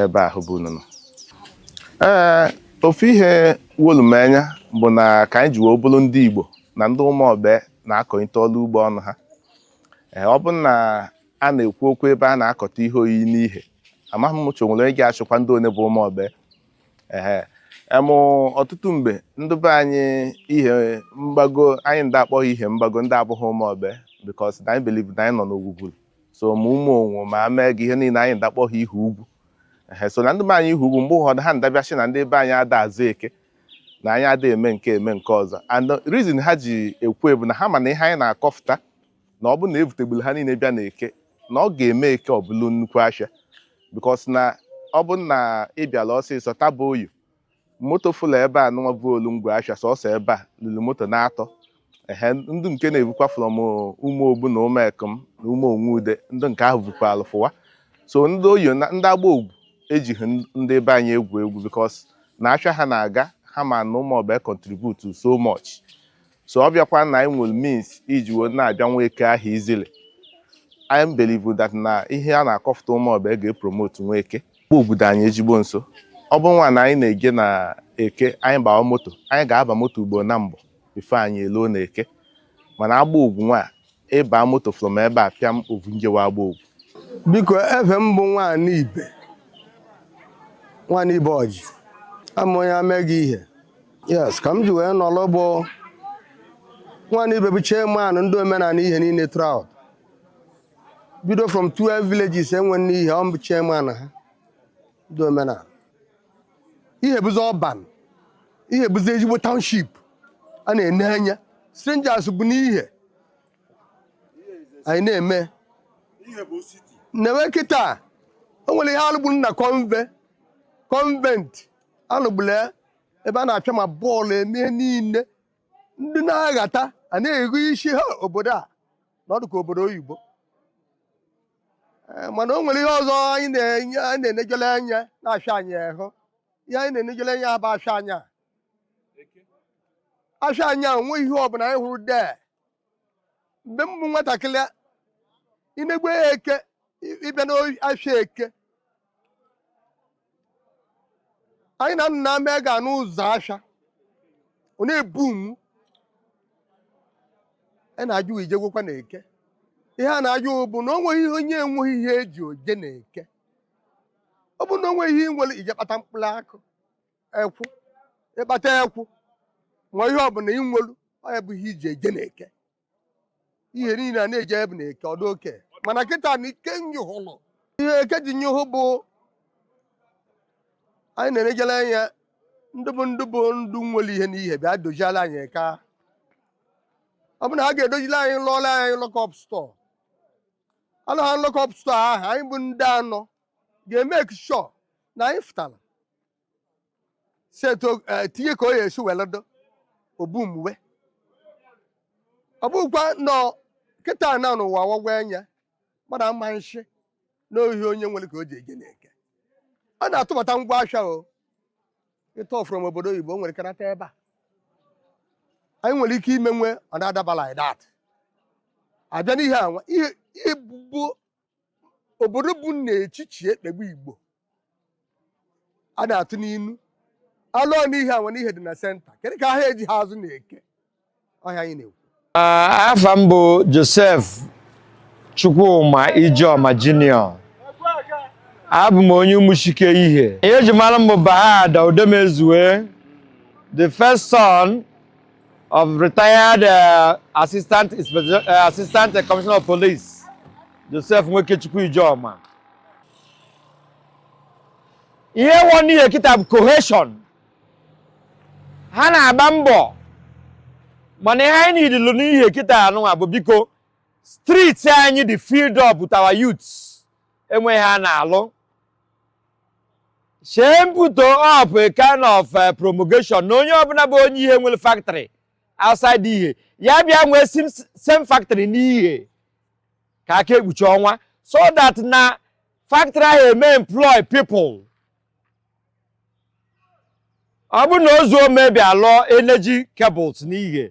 ebe ahụ bụ unu nọ ee ofu ihe wolu m anya bụ na ka anyị ji wee bụrụ ndị Igbo na ndị ụmụọbe na-akọnite ọrụ ugbo ọnụ ha ee ọ bụ na a na-ekwu okwu ebe a na-akọta ihe oyiyi n'ihe amaghị m mụcha o nwere onye ga-achịkwa ndị one bụ ụmụọbe ee emụ ọtụtụ mgbe ndị be anyị ihe mgbago anyị nda-akpọ ha ihe mgbago ndị abụghị ụmụọbe because na anyị believe na anyị nọ n'ogwugwuru so ma ụmụ onwo ma mega ihe niile anyị nda-akpọ ha ihe ugwu ehe so na ndị be anyị ihe ugwu mgbe ụfọdụ ha nda-abịa sị na ndị be anyị ada azụ eke na anyị ada eme nke eme nke ọzọ and the reason ha ji ekwu bụ na ha ma na ihe anyị na-akọfụta na ọ bụ na evutegburu ha niile bịa na eke na ọ ga-eme eke ọ bụrụ nnukwu ahịa because na ọ bụ na ị bịala ọsịsọ taa bụ oyo moto fụlụ ebe a nụnwa vulu ngwa afịa sọsọ ebe a lulu moto naatọ ehe ndị nke na-ebukwa from ụmụ ogbu na ụmụ ekom na ụmụ onwe ude ndị nke ahụ bukwaalụ fụwa so ndị oyi na ndị agbogwu ejighị n- ndị be anyị egwu egwu because na afịa ha na-aga ha ma na ụmụọbe contribute so much so ọ bịakwa na anyị nwere means iji wee na-abịa nwa eke ahụ easily anyị believe that na ihe a na-akọfụta ụmụọbe ga-epromote nwa eke kpọ obodo anyị ezigbo nso ọ bụ nwa na anyị na-eje na eke anyị gbawa moto anyị ga-aba moto ugbo nambọ before anyị eluo na eke mana agbogwu nwa ị ba moto from ebe a pịam o vu njewa agbogwu biko efa m bụ nwaanyị ibe nwaanyị ibe ọjị ama onye ame gị ihe yes ka m ji wee nọrọ bụ nwaanyị ibe bụ chairman ndị omenala ihe niile throughout bido from 12 villages e nwe n'ihe ọ bụ chairman ha ndị omenala ihe bụzi urban ihe bụzi ezigbo township a na-ene anya strangers bu n'ihe anyị na-eme newe kịta o nwere ihe a lụgburu na conve convent a lụgburu ya ebe a na-apịa ma bọọlụ eme niile ndị na-aghata a na-ego isi ha obodo a na ọ dị ka obodo oyibo Eh, mana o nwere ihe ọzọ anyị na-enye anyị na-enejele anya n'afịa anyị ahụ ihe anyị na-enejele anya bụ afịa anya afịa anya o nwe ihe ọbụla anyị hụrụ dee mgbe m bụ nwatakịrị inegwe ya eke ị- ị bịa n'afịa eke anyị na nna m ga n'ụzọ afịa ọ na-ebu mụ a na-ajụ ije gwekwa na eke ihe a na-ajụ bụ na o nweghị ihe onye enweghị ihe e ji eje na eke ọ bụ na o nweghị ihe i nwere i je kpata mkpụrụ akụ ekwụ ị kpata ekwụ ma ihe ọbụla i nwelu ọ ya bụ ihe i ji eje na eke ihe niile a na-eji ebe na eke ọdụ oke mana kịta na ike nyụhụlụ ihe eke ji nyụhụ bụ anyị na-enejele anya ndị bụ ndị bụ ndụ nwere ihe n'ihe bịa doziela anyị eke a. ọ bụ na ha ga-edozili anyị lụọla anyị lock-up store alụ ha lock-up store ahụ anyị bụ ndị anọ ga-emake sure na anyị fụtara si etu o- eh, tinye ka o ya esi were dụ obu mgbe ọ bụkwa nọ kịta na n'ụwa wagwa anya mmadụ ama nshi n'ohi onye nwere ka o ji eje n'eke ọ na-atụbata ngwa ahịa o ịtụ from obodo oyibo were karata ebe a anyị nwere ike imewe ọ na-adaba like that abịa n'ihe anwa ihe ihe bụ obodo bụ n'echichi ekpegbu igbo a na-atụ n'inu alụọ n'ihe anwa n'ihe dị na center kedu ka ahịa eji ha azụ n'eke ọhịa anyị na-ekwu Ah, afa m bụ joseph chukwuma ijeoma junior abụ m onye ụmụchike ihe ihe eji mara m bụ bahada udemezue the first son of retired uh, assistant Inspector- uh, assistant uh, commissioner of police joseph nwekechukwu ijeoma ihe wọ n'ihe kịta bụ cohesion ha na-agba mbọ mana ihe anyị needilụ n'ihe kịta anụnwa bụ biko street anyị dị filled up with our youths enweghị ha na-alụ shee m put up a kind of uh, promulgation na onye ọbụla bụ onye ihe nwere factory outside ihe ya bịa nwee sim- same factory n'ihe ka aka ekpuchi ọnwa so that na factory ahụ eme employ people ọ bụrụ na ozuome bịa lụọ energy cables n'ihe